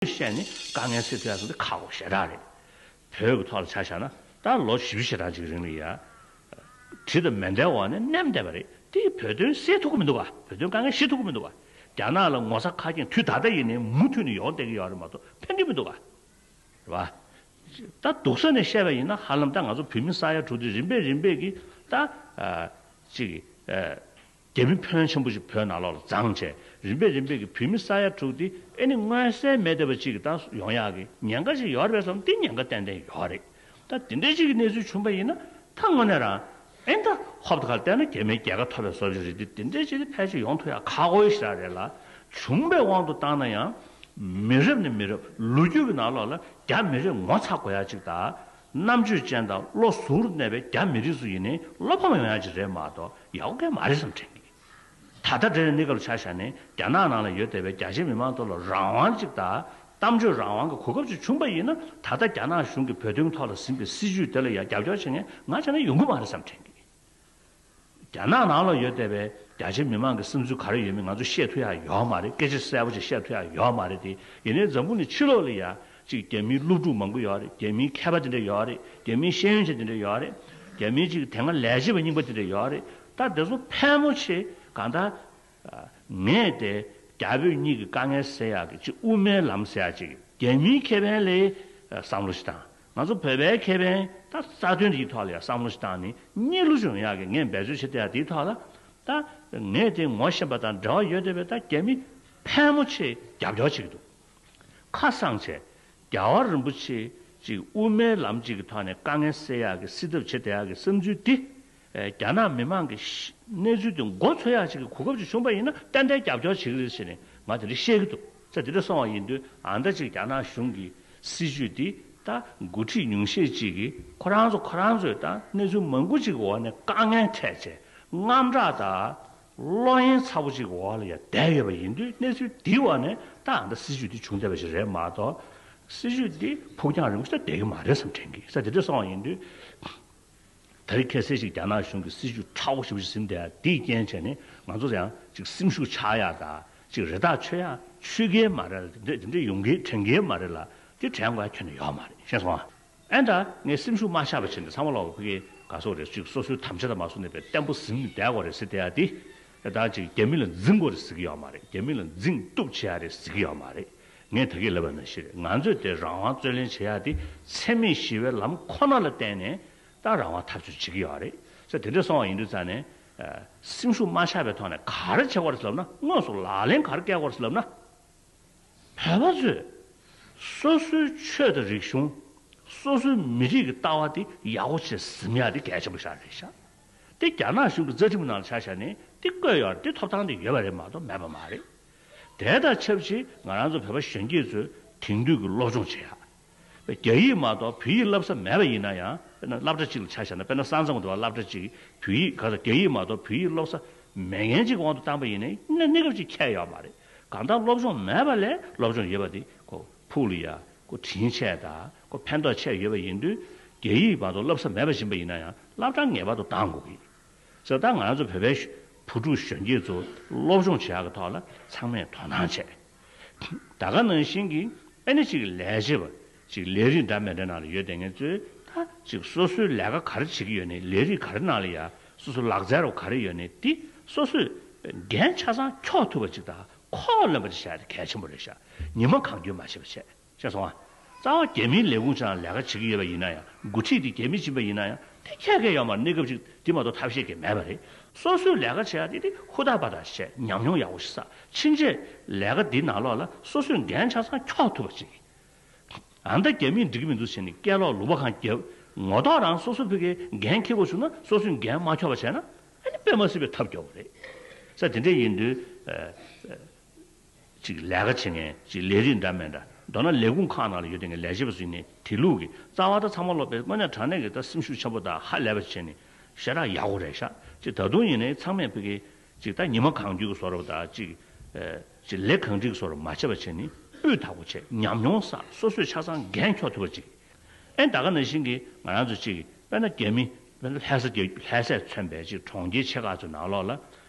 ལུས་ཤེས་ནི་དཀའ་ངལ་སེལ་ཐུབ་ཡག་ཟེར་ཏེ་ཁག་པོ་ཞེ་དྲག་རེད། བོད་ཀྱི་ཐོག་ལ་ཆ་བཞག་ན་ད་ལོ་བཞི་བཞི་དང་གཅིག་རིང་ལ་ཡ། དྲི་དང་མེ་མདའི་འོག་ནས་མནན་བསྡད་པ་རེད་དེ་བོད་དོན་སེལ་ཐུབ་ཀྱི་མི་འདུག་ག་བོད་དོན་དཀའ་ངལ་ཤེས་ཐུབ་ཀྱི་མི་འདུག་ག་རྒྱ་ནག་ལ་ངོ་ཚ་ཁ་སྐྱེངས་དུས་ད་ལྟ་ཡིན་ནའི་མུ་མཐུད་ནས་ཡོང་བསྡད་ཀྱི་ཡོད་རེད་མ་གཏོགས་ཕན་གྱི་མི་འདུག་ག། རེད་པ། ད་སྡུག་ས་ནས་བཤད་པ་ཡིན་ན་ཧ་ལམ་ད་ང་ཚོ་བོད་མི་ས་ཡ་དྲུག་དེ་རིམ་པས་རིམ་པས་ཀྱིས་ད། གཅིག། རྒྱལ་བུ་ཕོན་ཆེན་པོ་ཞིག་བོད་ནང་ལོག་ལ་བརྫངས་བྱས་རིམ་པས་རིམ་པས་ཀྱི་བོད་མི་ས་ཡ་དྲུག་དེ་ཨེ་ནི་མངོན་གསལ་མེད་བསྡད་པ་ཅིག་གི་ད་སུ་ཡོང་ཡག་གི་ཉེན་ཁ་ཞིག་ཡོད་རེད་བསམ་འདི་ཉེན་ཁ་ཏན་ཏན་ཡོད་རེད་ད་དེ་འདྲའི་ཅིག་གི་གནས་ཚུལ་བྱུང་པ་ཡིན་ན་ད་དངོས་གནས་རང་ཨེ་འདྲ་ཧོབ་ད་ག་ལ་བལྟས་ན་རྒྱ་མིའི་རྒྱལ་ཁ་ཐོབ་པའི་བཟོ་བྱས་རེད་དེ་དེ་འདྲའི་ཅིག་དེ་ཕལ་ཆེར་ཡོང་ཐུབ་ཡག་ཁག་འོས་ཞིག་རག་རེད་ལ་བྱུང་པའི་དབང་དུ་བཏང་ན་ཡང་མི་རབས་ནས་མི་རབས་ལོ་རྒྱུས་ཀྱི་ནང་ལོག་ལ་རྒྱ་མི་རིགས་ངོ་ཚ་དགོས་ཡག་ཅིག་ད་རྣམ་དཔྱོད་ཅན་དང་བློ་གཟུ་བོར་གནས་པའི་རྒྱ་མི་རིགས་སུ་ཡིན་ནས་བློ་ཕམ་ཡོང་ཡ་ཅིག་རེད་མ་གཏོགས་ཡག་པོ་གལ་མ་རེད་བསམ་དྲན་གི། ད་ལྟ་འདྲེ་རེ་གནས་སྐབས་ལ་ཆ་བཞག་ནས་རྒྱ་ནག་ནང་ལ་ཡོད་བསྡད་པའི་རྒྱ་ཆེའི་མི་མང་ཐོག་ལ་རང་དབང་ཅིག་དང་གཏམ་བརྗོད་རང་དབང་གི་གོ་སྐབས་ཅིག་བྱུང་པ་ཡིན་ན་ད་ལྟ་རྒྱ་ནག་གཞུང་གིས་བོད་དོན་ཐོག་ལ་ཟིན་པའི་སྲིད་བྱུས་དེ་ལ་ཡང་རྒྱབ་སྐྱོར་བྱེད་མཁན་ང་ཆ་ན་ཡོང་གི་མ་རེད་བསམ་དྲན་གི། རྒྱ་ནག་ནང་ལ་ཡོད་བསྡད་པའི་རྒྱ་ཆེ་མི་མང་གི་སེམས་ཚུལ་ག་རེ་ཡོད་མེད་ང་ཚོ་ཤེས་ཐུབ་ཡ་ཡོད་མ་རེད་སྐད་ཆ་གསལ་པོ་ཅིག་བཤད་ཐུབ་ཡ་ཡོད་མ་རེད་དེ་ཡིན་ནའི་འཛམ་བུ་ནི་ཕྱི་ལོག་ལ་ཡ་གཅིག་རྒྱ་མིའི་སློབ་ཕྲུག་མང་པོ་ཡོད་རེད་རྒྱ་མིའི་མཁས་པ་དེ་འདྲ་ཡོད་རེད་རྒྱ་མིའི་ཤེས་ཡོན་ཅན་དེ་འདྲ་ཡོད་རེད་རྒྱ་མིའི་གཅིག་དེ་སྔ་ལས་བྱེད་པ་རྙིང་པ་དེ་འདྲ་ཡོད་རེད་ད་དེ་ཚོ་ཕལ་མོ་ཆེ་གང་ལྟར་ངས་དེ་རྒྱ་བོད་གཉིས་ཀྱི་དཀའ་ངལ་སེལ་ཡག་གི་ཆེས་དབུ་མའི་ལམ་ཟེར་ཡག་ཅིག་རྒྱལ་མིའི་ཁེ་ཕན་ལས་བསམ་བློ་ཞིག་བཏང། ང་ཚོ་བོད་པའི་ཁེ་ཕན་ད་རྩ་དོན་དེའི་ཐོག་ལ་ཡང་བསམ་བློ་ཞིག་བཏང་ནས་གཉིས་བསླུ་བྱུང་ཡག་གི་ངས་འབད་རྩོལ་བྱེད་བསྡད་ཡག་དེའི་ཐོག་ལ། ད་ངས་དེ་ངོ་ཤེས་པ་དང་འབྲེལ་བ་ཡོད་བསྡད་པའི་ད་རྒྱལ་མི་ཕལ་མོ་ཆེ་རྒྱབ་སྐྱོར་བྱེད་ཀྱི་འདུག་ཁ་སང་བྱས་རྒྱལ་བ་རིན་པོ་ཆེ་གཅིག་དབུ་མའི་ལམ་གཅིག་གི་ཐོག་ནས་དཀའ་ངལ་སེལ་ཡག་གི་སེལ་ཐབས་བྱེད་བསྡད་ཡག་གི་བསམ་ཚུལ་དེ་རྒྱ་ནག་མི་མང་གི་གནས་ཚུལ་དེ་མགོ་འཚོས་ཡག་ཅིག་གི་གོ་སྐབས་ཅིག་བྱུང་པ་ཡིན་ན་ཏན་ཏན་རྒྱབ་སྐྱོར་བྱེད་ཀྱི་རེད་ཟེར་ནས་ང་དེ་རིང་བཤད་ཀྱི་འདུག་ཚེ་འདི་འདྲ་སོང་བ་ཡིན་དུས་ཨང་ད་ཅིག་རྒྱ་ནག་གཞུང་གི་སྲིད་བྱུས་འདི་ད་འགོ་ཁྲིད་ཉུང་ཤས་ཅིག་གིས་ཁོ་རང་ཚོ་ཁོ་རང་ཚོའི་ད་གནས་ཚུལ་མང་པོ་ཅིག་གི་འོག་ནས་དཀའ་ངལ་འཕྲད་ཆེད་དངངས་སྐྲག་དང་བློ་གཡེང་ཚ་པོ་ཅིག་གི་འོག་ལ་ཡང་བསྡད་ཡོད་པ་ཡིན་དུས་གནས་ཚུལ་འདིའི་འོག་ནས་ད་ཨང་ད་སྲིད་བྱུས་འདི་བྱུང་བསྡད་པ་ཞིག་རེད་མ་གཏོགས་སྲིད་བྱུས་འདི་ཕུགས་རྒྱང་རིང་པོ་ཞིག་ད་བསྡད་ཀྱི་མ་རེད་བསམ་དྲན་གྱི་ཚེ་འདི་འདྲ་སོང་བ་ཡིན་དུས། ད་རེས་ཁྱད་གསད་ཅིག་རྒྱ་ནག་གཞུང་གི་སྲིད་བྱུས་ཁྲ་བོ་ཞིག་ཟིན་བསྡད་ཡ་དེའི་རྐྱེན་བྱས་ནས་ང་ཚོར་ཡང་ཅིག་སེམས་ཤུགས་ཆག་ཡ་ད་ཅིག་རེ་ཐག་ཆོད་ཡ་ཆོད་གི་མ་རེད་ལ་དེ་འདྲས་དེ་འདྲས་ཡོང་གི་དྲན་གི་མ་རེད་ལ་དེ་དྲན་དགོས་ཡ་ཁྱོན་ནས་ཡོད་མ་རེད་ཤེས་སོང་ང་ཨེ་འདྲ་ངས་སེམས་ཤུགས་མ་ཆག་པའི་ཕྱིར་ནས་ཚང་མ་ལ་བོད་སྐད་དགའ་སོ་རེད་ཅིག་སོ་སོའི་དམ་བཅའ་དང་མ་སོ་ནས་པའི་བརྟན་པོ་ཟིན་བསྡད་དགོས་རེད་ཟེར་བསྡད་ཡ་དེ། བདག་ཅིག་རྒྱ་མི་ལ་འཛིང་དགོས་རེད་ཟེར་གི་ཡོད་མ་རེད་རྒྱ་མི་ལ་འཛིང་གཏུག་བྱེད་ཡ་རེད་ཟེར་གི་ཡོད་མ་རེད་ངས་ད་གི་ལབ་པ་ན་ཤི་རེད་ང་ཚོས་དེ་རང་དབང་རྩོད་ལེན་བྱེད་ཡ་དེ་འཚེ་མེད་ཞི་བའི་ལམ་ཁོ་ན་ལ་བརྟེན་ནས་ད་རང་དབང་ཐབས་བྱུས་བྱེད་གི་ཡོད་རེད་ས་དེ་འདྲས་སོང་བ་ཡིན་དུས་ཙང་ནས་སེམས་ཤུགས་མ་ཆག་པའི་ཐོག་ནས་ག་རེ་བྱེད་དགོས་རེད་ལབ་ན་དངོས་སུ་ལག་ལེན་ག་རེ་བཀལ་དགོས་རེད་ལབ་ན་བོད་པ་ཚོས་སོ་སོའི་ཆོས་དང་རིག་གཞུང་སོ་སོའི་མི་རིགས་ཀྱི་ལྟ་བ་དེ་ཡག་པོ་བྱེད་ཟིན་ཡ་དེ་གལ་ཆེན་པོ་ཞག་རེད་ཤག་དེ་རྒྱ་ནག་གཞུང་གི་རྩ་ཁྲིམས་ནང་ཆ་བཞག་ནས་དེ་བཀོད་ཡོང་དེ་ཐོབ་ཐང་དེ་ཡོད་པ་རེད་མ་གཏོགས་མེད་པ་མ་རེད། དེ་དང་ཆབས་ཅིག་ང་རང་ཚོ་བོད་པ་གཞོན་སྐྱེས་ཚོས་དེང་དུས་ཀྱི་སློབ་སྦྱོང་བྱེད་ཡག་པའི་རྒྱ་ཡིག་མ་གཏོགས་བོད་ཡིག་བསླབ་ས་མེད་པ་ཡིན་ན་ཡང་དཔེར་ན་སླབ་གྲ་ཅིག་ལ་ཆ་བཞག་ན་དཔེར་ན་ས་མཚམས་གྱི་དུ་བ་སླབ་གྲ་ཅིག་བོད་ཡིག་ག་ཚོད་རྒྱ་ཡིག་མ་གཏོགས་བོད་ཡིག་སློབ་ས་མེད་མཁན་ཅིག་གི་དབང་དུ་བཏང་པ་ཡིན་ནའི་གནས་གནས་སྐབས་ཅིག་ཁྱད་ཡོད་མ་རེད། གང་ལྟར་སློབ་སྦྱོང་མེད་པ་ལས་སློབ་སྦྱོང་ཡོད་པ་དེ་ཁོ་ཕུག་ལ་ཡ་ཁོ་དྲིན་ཆེ་ད། ཁོ་ཕན་ཐོགས་ཆེར་ཡོད་པ་ཡིན་དུས་རྒྱ་ཡིག་བར་དུ་བསླབ་ས་མེད་པ་བཞིན་པ་ཡིན་ན་ཡང་བསླབ་གྲྭ་ངེས་པར་དུ་གདང་དགོས་ཀྱི་ཡིན། ཟེར་ལྟར་ང་ཚོ་བོད་པའི་བུ་ཕྲུག་གཞོན་སྐྱེས་ཚོ་སློབ་སྦྱོང་བྱེད་ཡག་གི་ཐོག་ལ་ཚང་མས་དོ་སྣང་བྱེད། ད་ག་ནང་བཞིན་གྱི་ཨེ་ནི་ཅིག་ལས་བྱེད་པ་ཅིག་ལས་རིགས་འདྲ་མི་འདྲ་ནང་ལ་ཡོད་དེ་ངས་ཚོས་ད་ཅིག་སོ་སོའི་ལས་ཀ་ག་རེ་བྱེད་ཀྱི་ཡོད་ནི་ལས་རིགས་ག་རེ་ནང་ལ་ཡ་སོ་སོའི་ལག་རྩལ་རོ་ག་རེ་ཡོད་ནི་དེ་སོ་སོས་འགན་ཆ་ཚང་འཁྱོག་ཐུབ་པ་ཅིག་དང་ཁོག་ལོན་པ་ཅིག་བྱས་ཏེ་གལ་ཆེན་པོ་རེད་ཤག་ཉི་མ་གང་རྒྱུན་མ་ཆད་པ་བྱས། ཅེས་སོང་བ། རྩ་བ་རྒྱ་མིའི་ལས་ཁུངས་ཆེའང་ལས་ཀ་བྱེད་ཀྱི་ཡོད་པ་ཡིན་ན་ཡང་འགོ་ཁྲིད་དེ་རྒྱ་མི་སྦྱིན་པ་ཡིན་ན་ཡང་དེ་ཁྱད་མཁས་ཡོད་མ་རེད་གནས་སྐབས་ཅིག་དེ་མ་གཏོགས་ཐབས་ཤེས་ཀྱི་མེད་པ་རེད། སོ་སོས་ལས་ཀ་བྱས་ཡ་དེ་དེ་ཧུར་ཐག་པ་དང་བྱས་ཉམས་མྱོང་ཡག་པོ་ཞིག་བསགས་ཕྱིན་ཆད་ལས་ཀ་འདི་ནང་ལོགས་ལ་སོ་སོས་འགན་ཆ་ཚང་འཁྱོག་ཐུབ་པ་བྱེད་ཀྱི། ཨ་མདའ་རྒྱ་མིས་འགྲིག་གི་མི་འདུག་བྱས་ནས་སྐད་ལོག་ལུག་པ་གང་རྒྱབ། ངོ་ཐོག་རང་སོ་སོ་བོད་ཀྱི་འགན་འཁྱེར་དགོས་བྱུང་ན་སོ་སོས་འགན་མ་འཁྱོག་པ་བྱས་ན་ཨ་ནི་དཔེ་མ་སྲིད་པའི་ཐབས་སྐྱོ་བོ་རེད། ས་དེ་འདྲས་ཡིན་དུས། གཅིག་ལས་ཀ་བྱེད་མཁན་གཅིག་ལས་རིགས་འདྲ་མེད་འདྲ་མདོར་ན་ལས་ཁུངས་ཁག་ནང་ལ་ཡོད་དེ་འགའི་ལས་བྱེད་པ་ཚོས་ནི་དེ་ལུགས་ཀྱི་རྩ་བ་དག་ཚང་མ་སློབ་པས་དངོས་གནས་དྲང་གནས་ཀྱི་ད་སེམས་ཤུགས་ཆེན་པོ་དག་ཧ་ལས་པ་བྱས་ནས་ཤ་ཁྲག་ཡག་པོ་རེག་ཤག་གཅིག་ད་དུང་ཡིན་ནའི་ཚང་མས་ཕི་གེ་གཅིག་ད་ཉི་མ་གང་བརྒྱུད་ཀྱི་བཟོ་རོགས་དག་གཅིག་གཅིག་ལས་གང་སྒྲིག་གི་བཟོ་རོགས་མ་བྱས་པ་བྱས་ནི་སྤུས་དག་པོ་བྱས་ཉམས་མྱོང་ས་སོ་སོས་ཆ་ཚང་འགན་འཁྱོག་ཐུབ་པ་གཅིག་ཨེ་ད་ག་ན་བཞིན་གྱི་ང་རང་ཚོ་གཅིག་དཔེར་ན་རྒྱ་མི་དཔེར་ན་ལྷས་ས་རྒྱ་ལྷས་སས་མཚོན་པའི་གཅིག་གྲོང་ཁྱེར་ཆེ་ཁག་ཚོའི་ནང་ལོགས་ལ།